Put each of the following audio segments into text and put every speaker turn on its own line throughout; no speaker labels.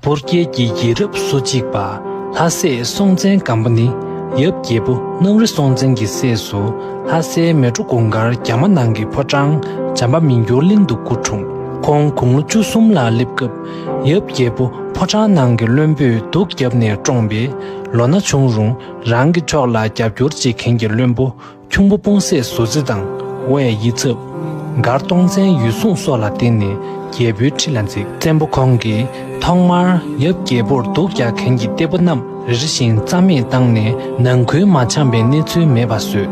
འབོར་རྒྱལ་གྱི་ཡིད་རབ་སོ་གཅིག་པ་ལྷ་སྲས་སྲོང་བཙན་སྒམ་པོ་ནི་ཡབ་རྒྱལ་པོ་གནམ་རི་སྲོང་བཙན་གྱི་སྲས་སུ་ལྷ་སའི་མལ་གྲོ་དགུང་དཀར་རྒྱ་མ་ནང་གི་ཕོ་བྲང་འཇམ་པ་མི་འགྱུར་གླིང་དུ་སྐུ་འཁྲུངས། ཁོང་དགུང་ལོ་བཅུ་གསུམ་ལ་སླེབས་སྐབས་ཡབ་རྒྱལ་པོ་ཕོ་བྲང་ནང་གི་བློན་པོས་སྡུག་བརྒྱབ་ནས་བཀྲོངས་པས་ལོ་ན་ཆུང་རུང་རང་གི་ཕྱོགས་ལ་རྒྱབ་སྐྱོར་བྱེད་མཁན་གྱི་བློན་པོ་ཁྱུང་པོ་སྤུང་སད་ཟུར་རྩེ་དང་བྷའི་ཡིད་ཚབ། མགར་སྟོང་བཙན་ཡུལ་སྲུང་སོགས་ལ་བརྟེན་ནས་རྒྱལ་པོའི་ཁྲི་ལ་འཛེགས། བཙན་པོ་ཁོང་གིས་ཐོག་མར་ཡབ་རྒྱལ་པོར་སྡུག་རྒྱག་མཁན་གྱི་གཏེ་པོ་རྣམས་རེ་རེ་བཞིན་རྩ་མེད་བཏང་ནས་ནང་ཁུལ་མ་འཆམ་པའི་གནས་ཚུལ་མེད་པ་བཟོས།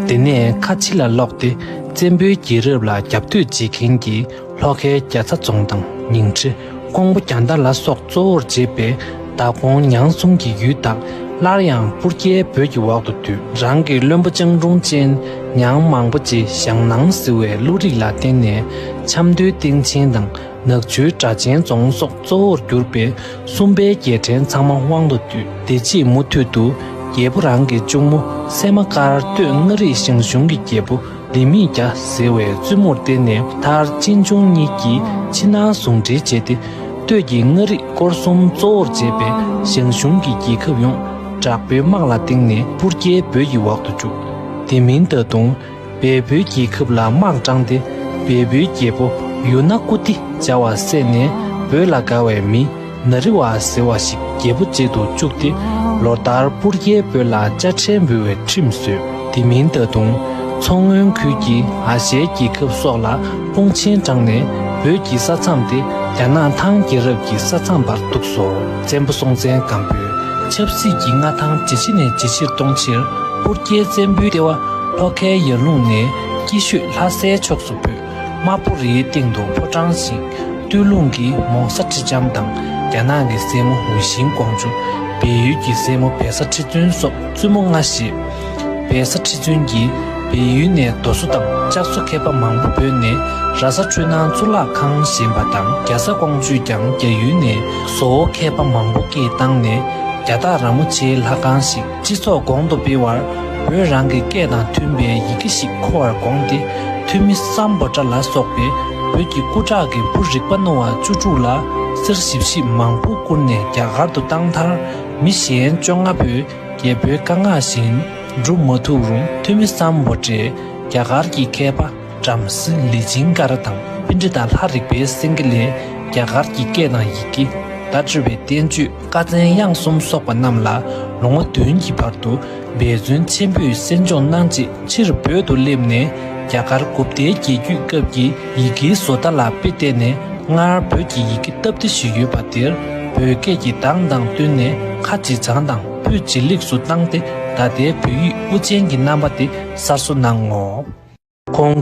དེ་ནས་ཁ་ཕྱི་ལ་ལོག་སྟེ་བཙན་པོའི་རྒྱལ་རབས་ལ་རྒྱབ་གཏོད་བྱེད་མཁན་གྱི་ལྷོ་ཁའི་རྒྱ་ཚ་རྫོང་དང་ཉིང་ཁྲི་ཀོང་པོ་རྒྱ་མདའ་ལ་སོགས་གཙོ་བོར་བྱེད་པའི་མདའ་ཀོང་ཉང་གསུམ་གྱི་ཡུལ་དག་སླར་ཡང་སྤུར་རྒྱལ་བོད་ཀྱི་འོག་ཏུ་བསྡུས། རང་གི་བློན་པོ་ཅང་ཀྲུང་ཅན་ཉང་མང་པོ་རྗེ་ཞང་ནང་བསིལ་བའི་བློ་རིག་ལ་བརྟེན་ནས་ཆབ་མདོའི་སྟེང་ཆེན་དང་ནག་ཆུའི་སྦྲ་ཆེན་རྫོང་སོགས་གཙོ་བོར་གྱུར་པའི་སུམ་པའི་རྒྱལ་ཕྲན་ཚང་མ་དབང་དུ་བསྡུས། དེ་རྗེས་མུ་མཐུད་དུ་རྒྱལ་པོ་རང་གི་གཅུང་མོ་སད་མ་དཀར་སྟོད་མངའ་རིས་ཞང་ཞུང་གི་རྒྱལ་པོ། ལྡེ་མིག་བརྒྱ་ཟེར་བའི་བཙུན་མོར་བསྟེན་ནས་མཐར་གཅེན་གཅུང་གཉིས་ཀྱིས་ཕྱི་ནང་ཟུང་འབྲེལ་བྱས་ཏེ། སྟོད་ཀྱི་མངའ་རིས་སྐོར་གསུམ་གཙོ་བོར་བྱས་པའི་ཞང་ཞུང་གི་རྒྱལ་ཁབ་ཡོངས་དྲག་པོའི་དམག་ལ་བཏིང་ནས་སྤུར་རྒྱལ་བོད་ཀྱི་འོག་ཏུ་བཅུག། དེ་མིན་ད་དུང་བལ་བོའི་རྒྱལ་ཁབ་ལ་དམག་དྲངས་ཏེ་བལ་བོའི་རྒྱལ་པོ་ཡུ་ན་ཀུ་ཏི་བྱ་བ་བསད་ནས་བོད་ལ་དགའ་བའི་མི་ན་རི་བ་ཟེར་བ་ཞིག་རྒྱལ་པོ་བཅལ་དུ་བཅུག་སྟེ་ལོ་ལྟར་སྤུར་རྒྱལ་བོད་ལ་དཔྱ་ཁྲལ་འབུལ་བའི་ཁྲིམས་བཟོས། དེ་མིན་ད་དུང་མཚོ་སྔོན་ཁུལ་གྱི་ཨ་ཞལ་རྒྱལ་ཁབ་སོགས་ལ་དཔུང་ཆེན་དྲངས་ནས་བོད་ཀྱི་ས་མཚམས་དེ་རྒྱ་ནག་ཐང་རྒྱལ་རབས་ཀྱི་ས་མཚམས་པར་གཏུགས་སོ། བཙན་པོ་སྲོང་བཙན་སྒམ་པོས་ཆབ་སྲིད་ཀྱི་མངའ་ཐང་ཇེ་ཆེ་ནས་ཇེ་ཆེར་གཏོང་ཕྱིར་སྤུར་རྒྱལ་བཙན་པོའི་ལྟེ་བ་ལྷོ་ཁའི་ཡར་ཀླུང་ནས་སྐྱིད་ཤོད་ལྷ་སའི་ཕྱོགས་སུ་བུད། དམར་པོ་རིའི་སྟེང་དུ་ཕོ་བྲང་ཞིག་སྟོད་ལུང་གི་མོང་ས་ཁྲི་ལྕམ་དང་རྒྱ་ནག་གི་སྲས་མོ་ཝུ་ཤིན་ཀོང་ཇུ། བལ་ཡུལ་གྱི་སྲས་མོ་བལ་ས་ཁྲི་བཙུན་སོགས་བཙུན་མོ་ལྔ་བཞི། བལ་ས་ཁྲི་བཙུན་གྱིས་བལ་ཡུལ་ནས་རྡོ་བཟོ་དང་ལྕགས་བཟོ་མཁས་པ་མང་པོ་བོས་ནས་ར་ས་འཕྲུལ་སྣང་གཙུག་ལག་ཁང་བཞེངས་པ་དང་རྒྱ་ས་ཀོང་ཇུས་ཀྱང་རྒྱ་ཡུལ་ནས་བཟོ་བོ་མཁས་པ་མང་པོ་སྐྱེས་བཏང་ནས་རྒྱ་སྟག་ར་མོ་ཆེའི་ལྷ་ཁང་ཞིག་སྤྱི་ཚོགས་གོང་དུ་སྤེལ་བར་བོད་རང་གི་སྐད་དང་མཐུན་པའི་ཡི་གེ་ཞིག་མཁོ་བར་དགོངས་ཏེ་ཐོན་མི་སམ་བོ་ཏྲ་ལ་སོགས་པའི་བོད་ཀྱི་སྐུ་དྲག་གི་བུ་རིག་པ་རྣོ་བ་བཅུ་དྲུག་ལ་གསེར་ཞིབ་བཤིབ་མང་པོ་བསྐུར་ནས་རྒྱ་གར་དུ་བཏང་མཐར་མི་གཞན་བཅོ་ལྔ་པོས་རྒྱལ་པོའི་བཀའ་མངགས་བཞིན་བསྒྲུབ་མ་ཐུབ་རུང་ཐོན་མི་སམ་བོ་ཏྲས་རྒྱ་གར་གྱི་མཁས་པ། བྲམ་ཟེ་ལི་སྦྱིན་ཀ་ར་དང་སྤེན་ཁྲི་དང་ལྷ་རིག་པའི་སེང་གེ་ལས་རྒྱ་གར་གྱི་སྐད་དང་ཡི་གེ། བརྡ་སྤྲོད་པའི་བསྟན་བཅོས་བཀའ་བཙན་དབྱངས་གསུམ་བསོགས་པ་རྣམས་ལ་ལོ་ངོ་བདུན་གྱི་བར་དུ་འབད་བརྩོན་ཆེན་པོས་གསན་སྦྱོང་གནང་རྗེས་ཕྱིར་བོད་དུ་སླེབས་ནས་རྒྱ་གར་དགུ་བརྒྱའི་རྒྱལ་རྒྱུད་སྐབས་ཀྱི་ཡི་གེའི་བཟོ་ལྟ་ལ་དཔེ་བལྟས་ནས་སྔར་བོད་ཀྱི་ཡི་གེ་སྟབས་བདེ་ཞིག་ཡོད་པ་དེར་བོད་སྐད་ཀྱི་གདངས་དང་བསྟུན་ནས་ཁ་ཇེ་བྱང་དང་ཕུད་ཇེ་ལེགས་སུ་བཏང་སྟེ་ད་ལྟའི་བོད་ཡིག་དབུ་ཅན་གྱི་རྣམ་པ་དེ་གསར་བཟོ་གནང་ངོ། ཁོང།